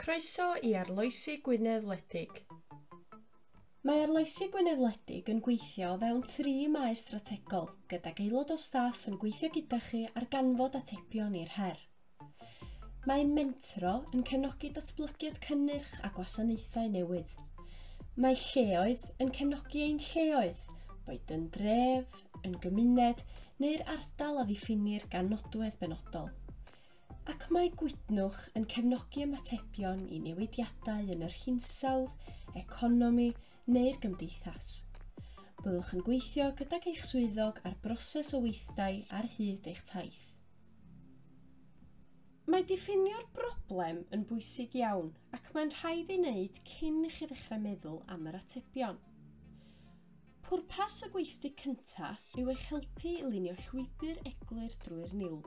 Croeso i Arloesi Gwynedd Wledig. Mae Arloesi Gwynedd Wledig yn gweithio o fewn tri maes strategol, gydag aelod o staff yn gweithio gyda chi ar ganfod atebion i'r her. Mae Mentro yn cefnogi datblygiad cynnyrch a gwasanaethau newydd. Mae Lleoedd yn cefnogi ein lleoedd, boed yn dref, yn gymuned neu'r ardal a ddiffinir gan nodwedd benodol. Ac mae Gwydnwch yn cefnogi ymatebion i newidiadau yn yr hinsawdd, economi neu'r gymdeithas. Byddwch yn gweithio gydag eich swyddog ar broses o weithdai ar hyd eich taith. Mae diffinio'r broblem yn bwysig iawn ac mae'n rhaid ei wneud cyn i chi ddechrau meddwl am yr atebion. Pwrpas y gweithdy cyntaf yw eich helpu i lunio llwybr eglur drwy'r niwl.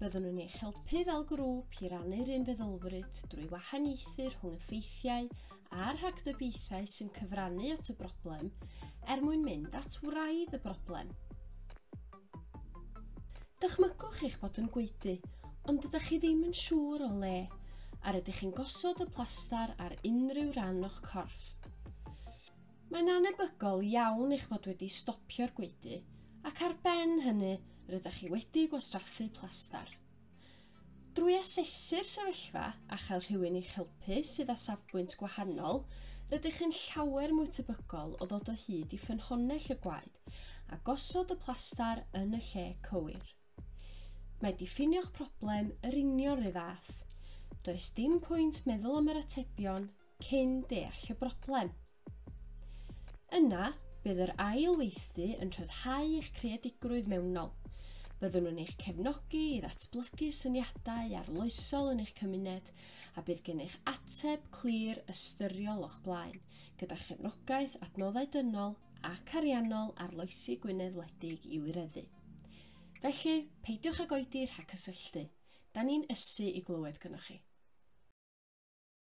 Byddwn yn eich helpu fel grŵp i rannu'r un feddylfryd drwy wahaniaethu rhwng y ffeithiau a'r rhagdybiaethau sy'n cyfrannu at y broblem er mwyn mynd at wraidd y broblem. Dychmygwch eich bod yn gweudu, ond ydych chi ddim yn siŵr o le, a rydych chi'n gosod y plastar ar unrhyw ran o'ch corff. Mae'n annebygol iawn eich bod wedi stopio'r gwaedu ac ar ben hynny rydych chi wedi gwastraffu plastar. Drwy asesu'r sefyllfa a chael rhywun i'ch helpu sydd â safbwynt gwahanol, rydych chi'n llawer mwy tebygol o ddod o hyd i ffynhonnell y gwaed a gosod y plastar yn y lle cywir. Mae diffinio'ch problem yr union rhy fath. Does dim pwynt meddwl am yr atebion cyn deall y broblem. Yna, bydd yr ail weithdy yn rhyddhau eich creadigrwydd mewnol. Byddwn yn eich cefnogi i ddatblygu syniadau arloesol yn eich cymuned a bydd gennych ateb clir ystyriol o'ch blaen, gyda chefnogaeth, adnoddau dynol ac ariannol arloesi Gwynedd wledig i wireddu. Felly, peidiwch ag oedi rhag cysylltu. Da ni'n ysu i glywed gynnwch chi.